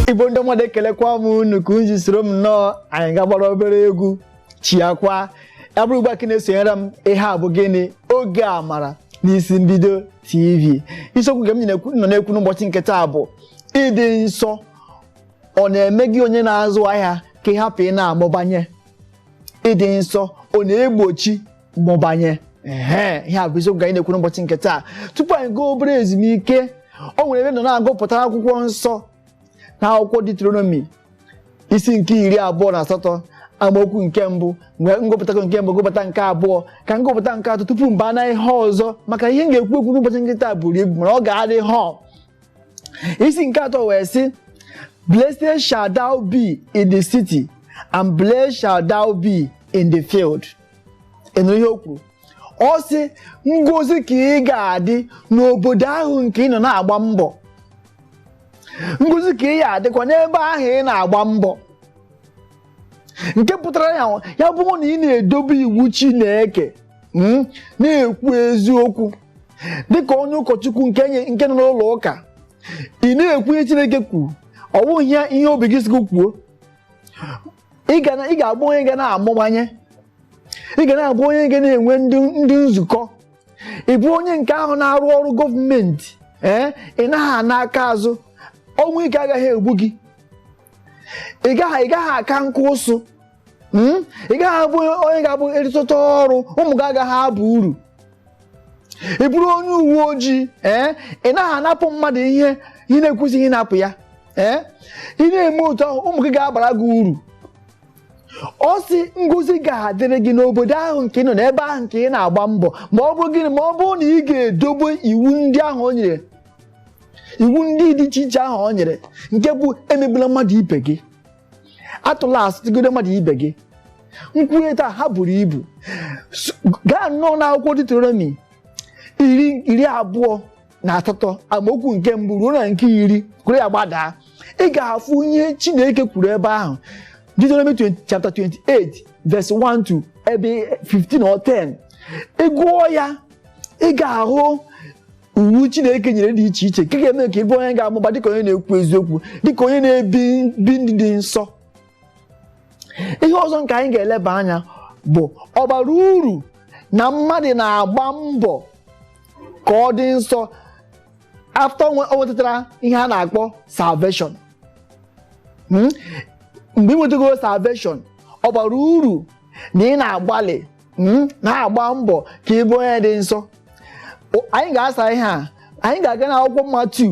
igbo ndị mmadụ ekelekwa m unu ka unu soro m nnọọ anyị ga-agbara obere egwu chiakwa ya bụrụ ugbu a ka ị na-esonyere m ihe a bụ gịnị oge amara n'isi mbido tv isiokwu nke m nọ na-ekwu n'ụbọchị nke taa bụ ịdị nsọ ọ na-eme gị onye na-azụ ahịa ka ị hapụ ị na-amụbanye ịdị nsọ ọ na-egbochi mmụbanye ehe ihe a bụ isiokwu ka anyị na-ekwu n'ụbọchị nke taa tupu anyị gaa obere ezumike o nwere ebe m nọ na-agụpụta akwụkwọ nsọ na akwụkwọ Deuteronomy isi nke iri abụọ na asatọ amaokwu nke mbụ wee m gụpụtago nke mbụ gụpụta nke abụọ ka m gụpụta nke atọ tupu m baa na ihe ọzọ maka ihe m ga-ekwu ekwu n'ụbọchị nke taa buru ibu mana ọ ga-adị họọ isi nke atọ wee sị blessed shall thou be in the city and blessed shall thou be in the field ị nụrụ ihe o kwuru ọ sị ngozi ka ị ga-adị n'obodo ahụ nke ị nọ na-agba mbọ ngozi ka ị ya-adịkwa n'ebe ahụ ị na-agba mbọ nke pụtara ya ya bụrụ na ị na-edobe iwu Chineke mm, na-ekwu eziokwu dịka onye ụkọchukwu nke nye- nke nọ n'ụlọ ụka ị na-ekwu ihe Chineke kwuru ọ bụghị ihe obi gị sị gị kwuo ị ga na- ị ga-abụ onye ga na-amụbanye ị ga na-abụ onye ga na-enwe ndị ndị nzukọ ị bụrụ onye nke ahụ na-arụ ọrụ gọọmenti ee ị naghị ana aka azụ ọnwụ ike agaghị egbu gị ị gaghị ị gaghị aka nka ụsụ Mm? ị gaghị abụ onye ga-abụ ị rịtuta ọrụ ụmụ gị agaghị aba uru ị bụrụ onye uwe ojii ee ị naghị anapụ mmadụ ihe ị na-ekwesịghị ịnapụ ya ee ị na-eme otu ahụ ụmụ gị ga-abara gị uru ọ sị ngozi ga-adịrị gị n'obodo ahụ nke ị nọ n'ebe ahụ nke ị na-agba mbọ ma ọ bụrụ gịnị ma ọ bụrụ na ị ga-edobe iwu ndị ahụ o nyere iwu ndị dị iche iche ahụ o nyere nke bụ emegbula mmadụ ibe gị atụla asị megide mmadụ ibe gị m kwuwe taa ha buru ibu S- gaa nnọọ n'akwụkwọ Deuteronomy iri iri abụọ na asatọ amaokwu nke mbụ ruo na nke iri were ya gbadaa ị ga-afụ ihe chineke kwuru ebe ahụ Deuteronomy 20 chapter 28 verse 1 to ebe 15 or 10 ị gụọ ya ị ga-ahụ iwu chineke nyere dị iche iche nke ga-eme ka ị bụrụ onye ga-amụba dịka onye na-ekwu eziokwu dịka onye na-ebi ndụ ịdị nsọ ihe ọzọ nke anyị ga-eleba anya bụ ọ bara uru na mmadụ na-agba mbọ ka ọ dị nsọ after o nwetara ihe a na-akpọ salvation hmm? mgbe ị nwetago salvation ọ bara uru na ị na-agbalị hmm? na-agba mbọ ka ị bụ onye dị nsọ anyị ga-asa ihe a anyị ga-aga n'akwụkwọ Matiu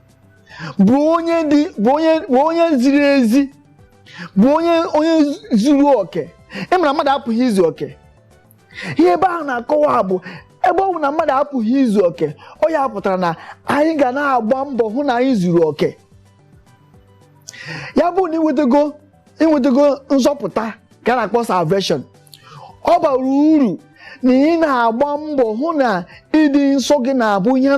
bụrụ onye dị bụ onye bụ onye ziri ezi bụ onye onye zuru oke ị mara mmadụ apụghị izu oke ihe ebe ahụ na-akọwa bụ ebe ọ bụ na mmadụ apụghị izu oke ọ ya kpatara na anyị ga na-agba mbọ hụ na anyị zuru oke ya bụ na ị nwetago ị nwetago nzọpụta ka a na-akpọ salvation ọ bara uru na ị na-agba mbọ hụ na ịdị nsọ gị na-abụ ihe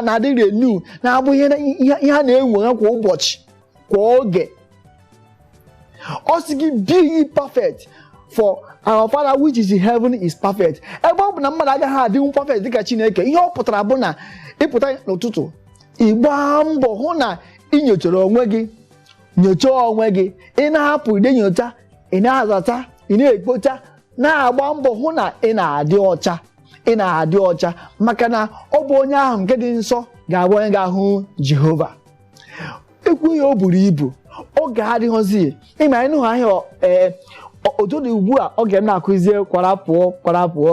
na-adị renew na-abụ ihe a na-enwe kwa ụbọchị kwa oge ọ sị gị be ye perfect for our father which is in heaven is perfect ebe ọ bụ na mmadụ agaghị adịnwu perfect dịka chineke ihe ọ pụtara bụ na ị pụta n'ụtụtụ ị gbaa mbọ hụ na ị nyochara onwe gị nyochaa onwe gị ị na-apụ ide nyocha ị na-azacha ị na-ekpocha na-agba mbọ hụ na ị na-adị ọcha ị na-adị ọcha maka na ọ bụ onye ahụ nke dị nsọ ga-abụ onye ga-ahụ Jehova e kwuo ya o buru ibu oge adịghịzi ị ma ịnụ ahịa ee otu ọ dị ugbu a oge m na-akụzie kwara pụọ kwara pụọ